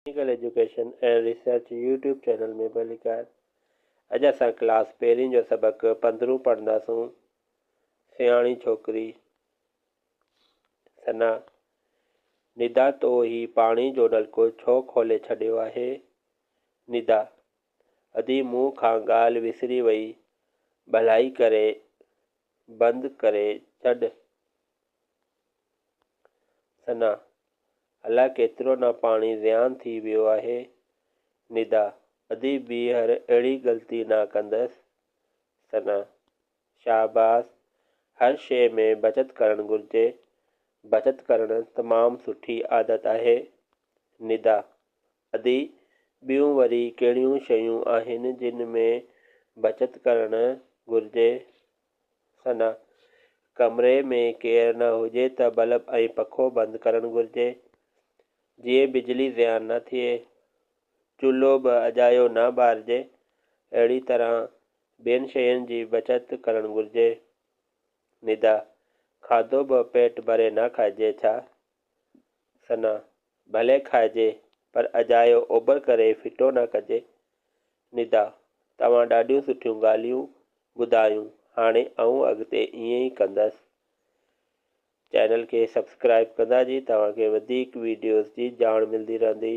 Technical education and research YouTube channel ۾ ڀليڪار اڄ اسان ڪلاس پهرين جو سبق پندرهون پڙهنداسون سياڻي ڇوڪري ثنا ندا تو هي پاڻي جو نلڪو ڇو کولي ڇڏيو آهي ندا ادي مون کان ڳالهه وسري وئي ڀلائي ڪري بند ڪري ڇڏ ثنا، الاء ڪيترو نه پاڻي زيان ٿي ويو آهي. ندا، ادي ٻيهر اهڙي غلطي نه ڪندس. ثنا، شاباس، هر شيء ۾ بچت ڪرڻ گهرجي. بچت ڪرڻ تمام سٺي عادت آهي. ندا، ادي ٻيون وري ڪهڙيون شيون آهن جن ۾ بچت ڪرڻ گهرجي. ثنا، ڪمري ۾ ڪير نه هجي ته بلب ۽ پکو بند ڪرڻ گهرجي، جيئن بجلي ضياع نه ٿئي. چولهو به اجايو نه ٻارجي. اهڙي طرح ٻين شين جي بچت ڪرڻ گهرجي. ندا، کاڌو به پيٽ ڀري نه کائجي ڇا؟ ثنا، ڀلي کائجي پر اجايو اوبر ڪري ڦٽو نه ڪجي. ندا، توهان ڏاڍيون سٺيون ڳالهيون ٻڌايون هاڻي آئون اڳتي ائين ئي ڪندس. چينل کي سبسڪرائيب ڪندا جي توهان کي وڌيڪ ويڊيوز جي ڄاڻ ملدي رهندي.